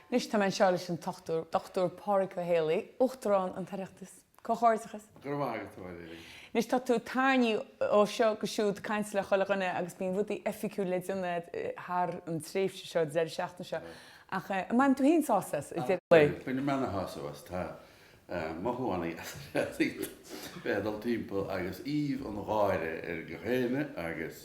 Anois tá mé anseo leis an Dochtúir Pádraig Ó Héalaí, Uachtarán an tOireachtas. Comhghairdeachas! Go raibh maith agat, a Valerie. Anois tá tú tarraingthe ó seo go siúd, caint le chuile dhuine agus bíonn rudaí oifigiúil le déanamh thar an tréimhse seo, deireadh seachtaine seo. Ach an mbaineann tú féin sásamh as? Bainim ana-shásamh as, tá. mothúchánaí as a leithéid bheith ag dul timpeall agus aoibh an gháire ar gach éinne agus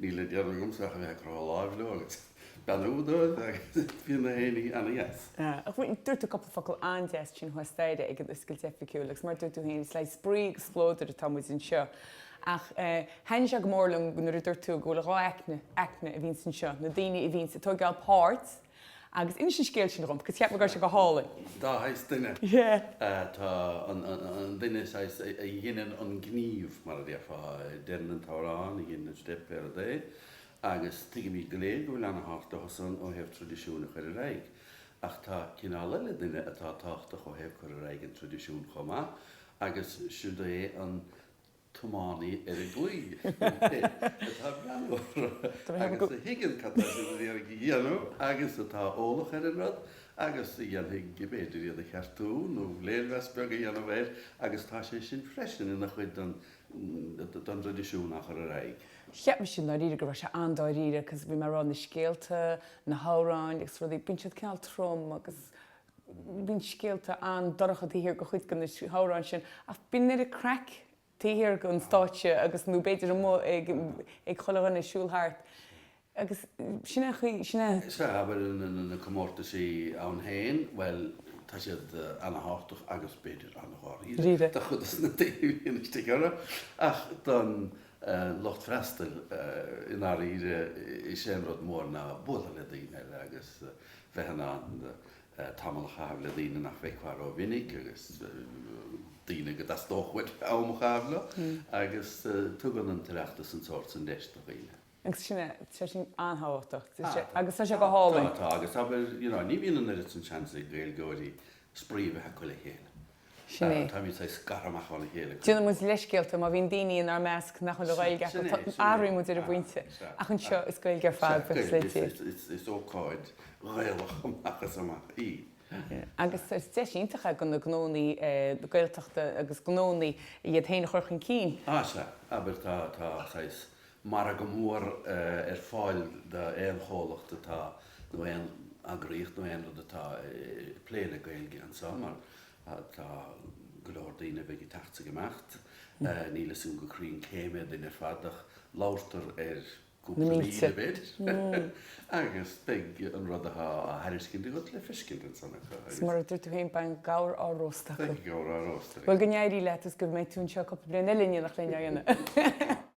níl le déanamh agamsa ach a bheith ag croitheadh láimh leo agus beannú dóibh agus bíonn gach éinne ana-dheas. Dúirt tú cúpla focal an-deas ansin thuas staighre ag an oscailt oifigiúil agus mar a dúirt tú féin, is le spraoi agus spleodar atá muid anseo. Ach thaithin sé go mór liom nuair a dúirt tú go bhfuil dhá aicme a bhíonns anseo, na daoine a bhíonns ag tóigeáil páirt, Agus inis an scéal sin dhom, 'cause cheap mé go raibh sé go hálainn. Dá shaghas duine atá ann, an duine saghas a dheineann an gníomh, mar a déarfá. Deireann an t-amhrán, a dheineann an steip, pé rud é, agus tuigimid go léir go bhfuil ana-thábhacht leosan ó thaobh traidisiúin a chur ar aghaidh. Ach tá cineál eile duine atá tábhachtach ó thaobh cur ar aghaidh an traidisiúin chomh maith, agus siúd é an. t-iománaí ar an gclaí atá ag breathnú orthu agus a thuigeann cad tá siad ag iarraidh a dhéanamh agus atá eolach ar an rud agus a dhéanfaidh, b'fhéidir, iad a cheartú nó léirmheas beag a dhéanamh air agus tá sé sin freisin ina chuid den dtraidisiún á chur ar aghaidh. Cheap mise i ndáiríre go raibh sé an-dáiríre cos bhí mé ag rá na scéalta, na hamhráin agus rudaí, bíonn siad cineál trom agus. Bíonn scéalta an-dorcha taobh thiar de chuid de na hamhráin sin, ach bíonn oiread craic taobh thiar den stáitse agus, nó b'fhéidir amuigh ag chuile dhuine ag siúl thart. Agus sin an chaoi, sin é. Sea, bhuel, na comórtaisí ann féin, bhuel, tá siad ana-thábhachtach agus b'fhéidir ana-dháiríre do chuid de na daoine a bhíonn istigh orthu, ach don lucht freastail, i ndáiríre, is é an rud mór ná bualadh le daoine eile agus bheith in ann tamall a chaitheamh le daoine nach bhfeicfeá rómhinic agus daoine go dteastódh uait am a chaitheamh leo, agus tugann an tOireachtas an sórt sin deis do dhaoine. Agus sin é, tá sin an-tábhachtach, agus tá sé go hálainn. Tá, tá, agus abair, you know, ní bhíonn an oiread sin seans ag Gaeilgeoirí spraoi a bheith acu le chéile. Sin é. Tá muid saghas scartha amach óna chéile cuid mhór. Déanann muid leithscéalta má bhíonn daoine inár measc nach bhfuil an Ghaeilge acu, Sin é, sin é. athraíonn muid ar an Aha, bpointe, sea, ach anseo aha. is Gaeilge ar Sea, fad beirt Gaeilge, is, is, is, is ócáid Ghaelach amach is amach í. Sea, sea. Agus is deis iontach é do na gnóannaí Gaeltachta agus gnóannaí iad féin a chur chun cinn. Ah, sea. Abair tá, tá saghas margadh mór ar fáil d'aon chomhlacht atá, nó aon eagraíocht nó aon rud atá ag plé le Gaeilge anseo mar tá go leor daoine a bheidh ag teacht 's ag imeacht. Níl 'fhios a'm go cruinn cé mhéad duine ar fad ach labhartar ar cúpla míle b'fhéidir agus beidh an rud atá á thairiscint agat le feiscint ansan acu. 'S mar a dúirt tú féin beidh an gabhar á róstadh acu. Beidh an gabhar á róstadh. Bhuel go n-éirí leat is go mbeidh tú anseo cúpla bliain eile inniu nach linn é a dhéanamh.